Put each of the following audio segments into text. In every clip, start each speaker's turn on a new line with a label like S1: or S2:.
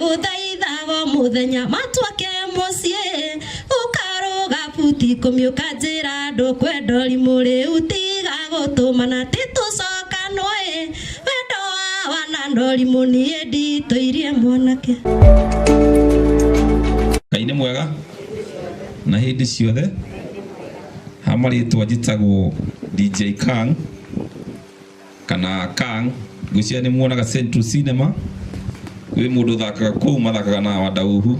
S1: ndagũthaithaga mũthenya matuake mũciĩ ũkarũga buti kũmiũka njĩra andũ kwenda ũrimũ rĩu tiga gũtũmana titũcokanwe wendo wa wana ndorimũ niĩ nditũirie mwanake ngai
S2: nĩ mwega na hĩndĩ ciothe hamarĩtwa njĩtagwo dj kang kana kang ngwĩciria nĩ muonaga central cinema wĩ mũndũ ũthakaga kũu mathakaga na wadauhu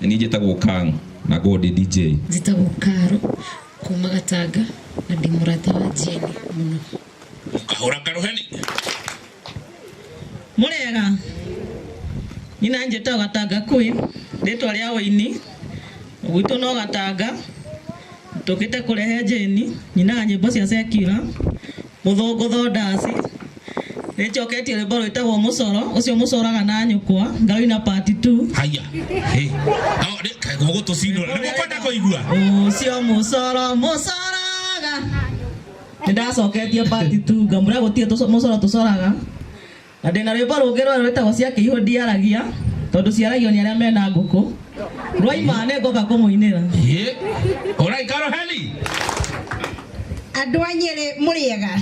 S2: nĩ niĩ njĩtagwo kang na ngorwo ndĩ dj njĩtagwo karo
S3: kuma gatanga na ndĩ mũrata wa jeni mũno Kahora
S2: karuheni.
S4: Murega. Nyina njĩtagwo Gatanga Queen, rĩtwa rĩa ũini. Gwitũ no Gatanga. Tũkĩte kũrehe njĩni, nyinaga nyĩmbo cia secular. Gũthũngũtho ndaci. Nĩ njoketie rwĩmbo rwĩtagwo mũcoro ũcio mũcoraga na nyũkwa ngaruina part 2. Haya.
S2: Hey. No, ni kai gogo to sino. Ni mukwenda kuigua. Ũcio mũcoro
S4: mũcoraga. Nĩ ndacoketie part 2 ngamũra gũtirĩ tũco- mũcoro tũcoraga. Na ndĩ na rwĩmbo rũngĩ rwerũ rwĩtagwo cia kĩihũ ndiaragia tondũ ciaragio nĩ arĩa mena ngũkũ rwaima nĩ ngoka kũmũinĩra Ye.
S2: Alright, Carol Heli.
S5: andå a nyä rä må rä ega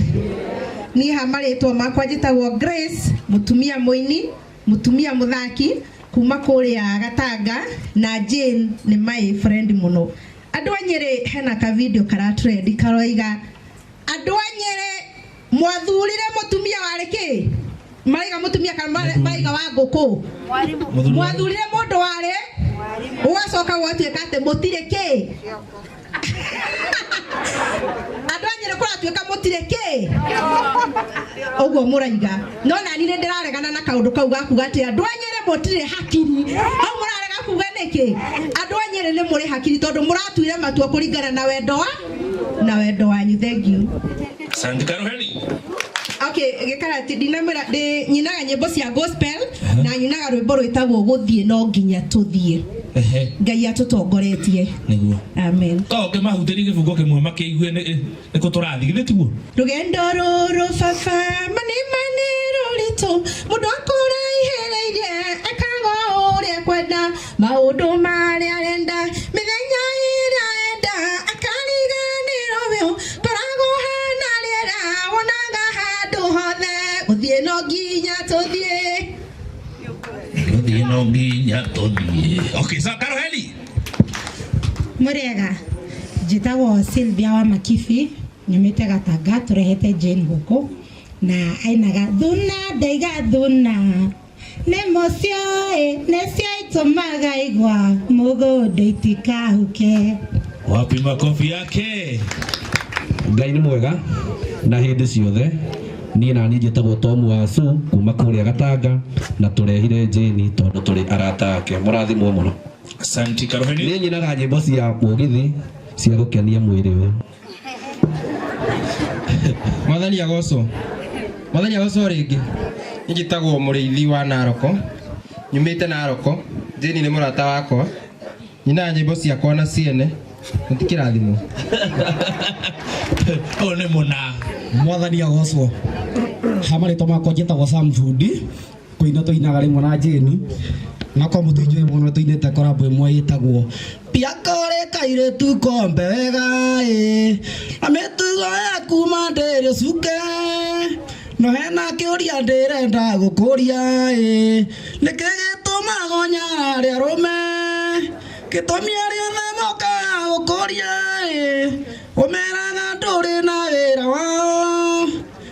S5: niä ha marĩtwo makwa njätagwo grace må tumia må ini må tumia må thaki kuma kå rä a gatanga na jane nä maä friend må no andå a nyä rä hena kavindio karatrendi karoiga andå a nyä rä mwathurire mutumia warĩ kĩ maraiga mutumia kana mara- maraiga wa ngũkũ mwathurire mũndũ warĩ ũgacoka gwatuĩka atĩ mũtirĩ kĩ andũ a nyĩrĩ kũratuĩka mũtirĩ kĩ ũguo mũraiga no nani nĩ ndĩraregana na kaũndũ kau gakuga atĩ andũ a nyĩrĩ mũtirĩ hakiri hau mũrarega kuga nĩkĩ andũ a nyĩrĩ nĩ mũrĩ hakiri tondũ mũratuire matua kũringana na wendo wa na wendo wanyu thengiũ Asante Karuheni.
S2: okay
S5: gĩkarati ndinamwĩra ndĩ nyinaga nyĩmbo cia gospel na nyinaga rwĩmbo rwĩtagwo gũthiĩ no nginya tũthiĩ Ehe, ngai atũtongoretie nĩguo. amen
S2: Korwo
S5: ũngĩmahutĩria gĩbungo
S2: kĩmwe makĩigue nĩ nĩ kũ tũrathiĩ githĩ tiguo? rũgendo rũrũ
S5: baba manĩ manĩ rũritũ mũndũ akũraihereirie ekaga ũrĩa kwenda Maũndũ marĩa arenda mĩthenya ĩrĩa enda akariganĩrwo biũ koragwo hana rĩera wonaga handũ hothe gũthiĩ no nginya tũthiĩ
S2: gũthiĩ no nginya tũthiĩ okay so karoheli
S6: mũrĩega njĩtagwo Sylvia wa Makibi nyumĩte Gatanga tũrehete Jane gũkũ na ainaga thuna ndaiga thuna nĩmo cioĩ nĩcio itũmaga igwa mũgũnda itikahuke wapi
S2: makobi yake
S7: ngai nĩ mwega na hĩndĩ ciothe niĩ nani njĩtagwo tomu wa su kuma kũrĩa gatanga na tũrehire njĩni tondũ tũrĩ arata ake mũrathimwo mũno asanti karoheni
S2: nĩ nyinaga nyĩmbo cia
S7: mũgithi cia gũkenia mwĩrĩ ũyũ
S8: mwathani agocwo mwathani agocwo rĩngĩ njĩtagwo mũrĩithi wa naroko nyumĩte naroko jeni nĩ mũrata wakwa nyina nyĩmbo ciakwa na ciene mũtikĩrathimwo ũyũ
S2: nĩ mũna mwathani agocwo
S9: hamarĩtwa makwa njĩtagwo sam thundi kuina tuinaga rimwe na jeni na kwa mutu injui muno tuinite korambo imwe yitagwo biakore kaire tu kombe wega e na mitugo ya kuma ndiri cuke no hena kiuria ndirenda gukuria e niki gituma gonya ria rume gitumi aria themoka gukuria e umeraga nduri na wira wao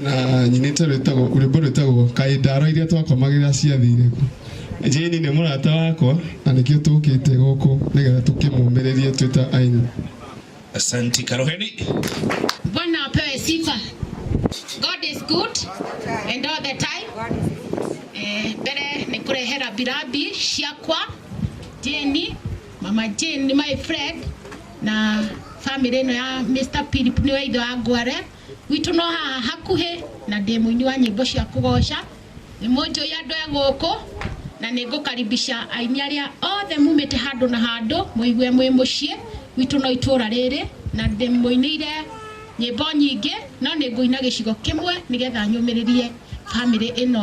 S10: na nyinĩte rwĩtagwo rwĩmbo rwĩtagwo kaĩ ndaro iria twakomagĩrĩra ciathire kũ jeni nĩ mũrata wakwa na nĩkĩo tũkĩte gũkũ nĩgetha tũkĩmũmĩrĩrie twĩ ta aini Asanti
S11: Karoheni. Bwana
S12: apewe sifa. God is good and all the time. Eh, mbere nĩ kũrehe rabirabi ciakwa Jane, mama Jane, my friend na family ĩno ya Mr. Philip nĩ waithe wa Ngware Gwitũ no haha hakuhĩ na ndĩ mũini wa nyĩmbo cia kũgoca. Nĩ mũnjũĩ andũ e gũkũ na nĩ ngũkaribisha aini arĩa othe mumĩte handũ na handũ mũigue mwĩ mũciĩ. Gwitũ no itũra rĩrĩ na ndĩmũinĩire nyĩmbo nyingĩ no nĩ ngũina gĩcigo kĩmwe nĩgetha nyũmĩrĩrie bamĩrĩ ĩno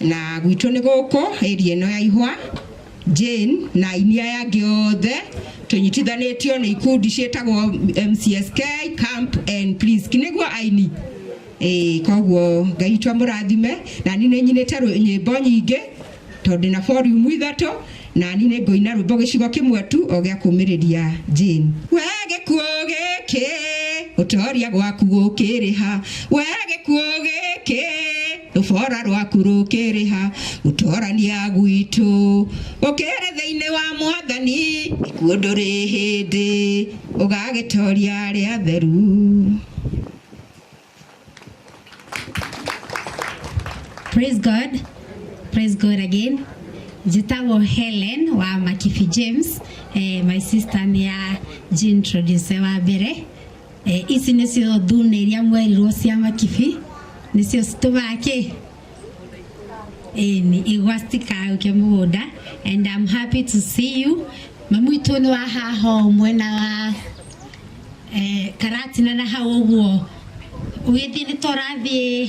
S5: Na gwitũ nĩ gũkũ ĩri ĩno ya ihwa Jane na aini aya angĩ othe tũnyitithanĩtio nĩ ikundi ciĩtagwo MCSK Camp and Please nĩguo aini ĩĩ koguo Ngai witũ amũrathime na niĩ nĩ nyinĩte rwĩ- nyĩmbo nyingĩ tondũ ndĩ na volume ithatũ na niĩ nĩ ngũina rwĩmbo gĩcigo kĩmwe tu o gĩa kũmĩrĩria Jane we gĩkuũ gĩkĩ ũtoria gwaku gũkĩrĩha we gĩkuũ gĩkĩ rũbora rwaku rũkĩrĩha gũtorania gwitũ ũkĩrĩ thĩinĩ wa mwathani ikuũ ndũrĩ hĩndĩ ũgagĩtoria arĩa atheru
S13: Praise God. Praise God again. Njĩtagwo Helen wa Makibi James. Eh, my sister nĩ ya Jean Introducer wa mbere. Eh, ici nĩcio thune iria mwerirwo cia makibi nĩcio citũmaga kĩ ĩni igwa citikaũke mũgũnda and I'm happy to see you mamu itũ nĩ wahaha o mwena wa eh, karatina na hau ũguo ũgĩthiĩ nĩ tũrathiĩ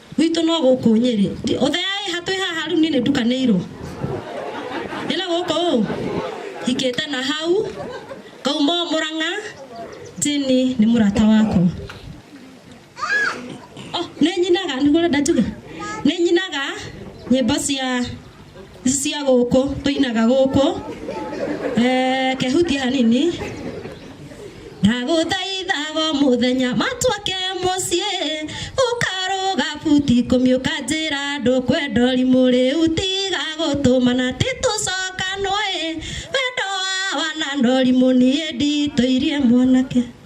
S1: gwitũ no gũkũ nyĩrĩ ũtheaĩ hatwĩ haha rĩu niĩ nĩ ndukanĩirwo nĩ na gũkũ ũ hikĩte na hau ngauma o mũrang'a jini nĩ mũrata wakwa oh, nĩ nyinaga nĩguo ũrenda njuge nĩ nyinaga nyĩmbo cia cia gũkũ tũinaga gũkũ eh, kehutia hanini ndagũthaithago mũthenya matuake mũciĩ ũkarũga buti ikũmi ũkanjĩra andũ kwenda ũrimũ rĩu tiga gũtũmana titũcokanwo ĩ wendo wa wana na ũrimũ niĩ nditũirie mwanake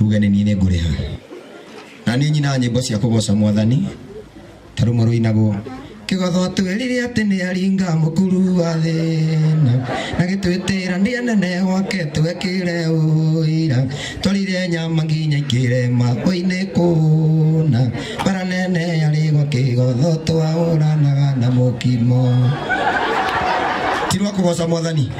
S14: uge nĩ niĩ nĩ ngũrĩha na nĩ nyina nyĩmbo cia kũgoca mwathani tarũmwe rũinagwo kĩgotho twĩrire atĩ nĩ aringa mũkuru wa thĩna na gĩtwĩtĩra nĩ anene gwake twekĩre ũira twarire nyama nginya ikĩre makoinĩ kũna bara nene yarĩ gwa kĩgotho twaũranaga na mũkimo ti rwa kũgoca mwathani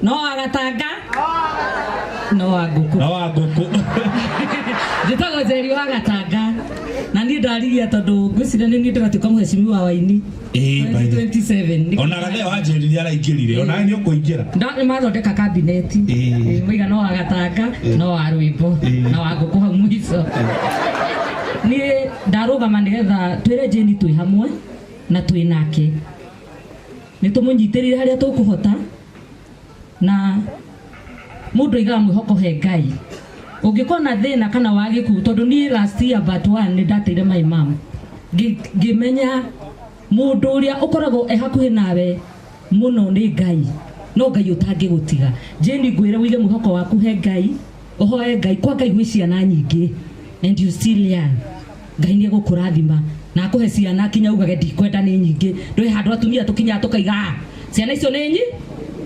S1: No agatanga. No agũkũ. No agũkũ. Njĩtagwo Njeri wa Gatanga. Na niĩ ndarigia tondũ ngwĩciria nĩ niĩ ndĩratuĩka mũhecimi wa waini. Ĩĩ, by the- 27. Ona Gatheo
S11: anjĩrire araingĩrire. Ona nĩ ũkũingĩra. Nda- nĩ mathondeka
S1: kabineti Ĩĩ. Ĩĩ, mũiga no wa gatanga no wa rwĩmbo Ĩĩ. na wa ngũkũ hau mũico niĩ ndarũgama nĩgetha twĩre jeni twĩ hamwe na twĩ nake nĩ tũmũnyitĩrĩre harĩa tũkũhota na mũndũ aigaga mwĩhoko he ngai ũngĩkorwo na thĩna kana wa gĩkuũ tondũ niĩ last year but one nĩ ndateire my mom Ngĩ- ngĩmenya mũndũ ũrĩa ũkoragwo e hakuhĩ nawe mũno nĩ ngai no ngai ũtangĩgũtiga jeni ngwĩre wige mwĩhoko waku he ngai ũhoe ngai kwa ngai gwĩ ciana nyingĩ and you still young ngai nĩ egũkũrathima na akũhe ciana kinya ugage ndikwenda nĩ nyingĩ ndũĩ handũ atumia tũkinyaga tũkaiga ciana icio nĩ nyi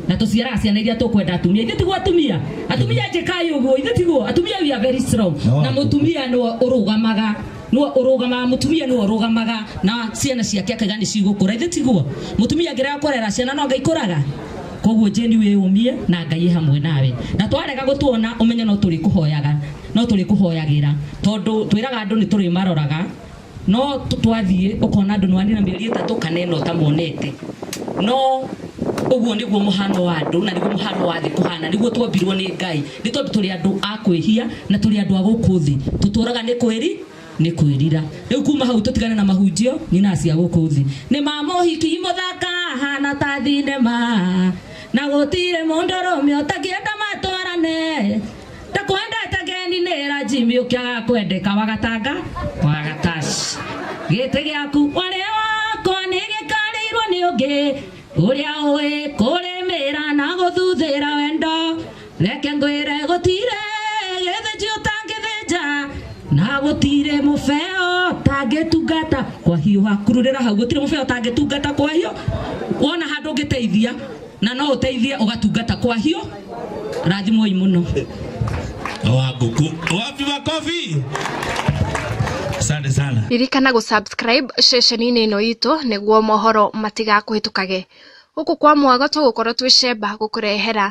S1: na tũciaraga ciana iria tũkwenda atumia ithuĩ tiguo atumia atumia njĩkai ũguo ithuĩ tiguo atumia we are very strong No, na atumia. mũtumia nĩwe ũrũgamaga nĩwe ũrũgamaga mũtumia nĩwe ũrũgamaga na ciana ciake akaiga nĩ cigũkũra ithuĩ tiguo mũtumia angĩrega kũrera ciana no ngai kũraga koguo njeni wĩyũmie na ngai hamwe nawe na twarega gũtuona ũmenye no tũrĩkũhoyaga no tũrĩkũhoyagĩra tondũ twĩraga andũ nĩ tũrĩmaroraga no tũ- twathiĩ ũkona andũ nĩwanina mĩeri ĩtatũ kana ĩna ũtamonete no ũguo nĩguo mũhano wa andũ na nĩguo mũhano wa thĩ kũhana nĩguo twombirwo nĩ ngai nĩ tondũ tũrĩ andũ a kwĩhia na tũrĩ andũ a gũkũ thĩ tũtũraga nĩ kwĩri nĩ kwĩrira rĩu kuma hau tũtigane na mahunjio nyina cia gũkũ thĩ nĩ ma mũhiki mũthaka hana ta thinema na gũtirĩ mũndũ rũme ũtangĩenda matwarane ndakwendete geni nĩ ranjimi ũkĩaga kwendeka wagatanga wagataci gĩtĩ gĩaku warĩ wakwa nĩ gĩkarĩirwo nĩ ũngĩ ũrĩa ũĩ kũrĩmĩra na gũthuthĩra wendo reke ngwĩre gũtire gĩthĩnji ũtangĩthĩnja na gũtire mũbeo tangĩtungata kwa hiũha kururĩra hau gũtire mũbeo tangĩtungata kwa hiũ wona handũ ũngĩteithia na no ũteithie ũgatungata kwa hiũ rathimoi mũno
S11: wa ngũkũ wapi makobi asante sana ririkana gå subscribe
S15: ceceni-inĩ ĩno itũ nĩguo mohoro matigakũhĩtũkage gũkũ kwa mwago tũgũkorwo twĩ cemba gũkũrehera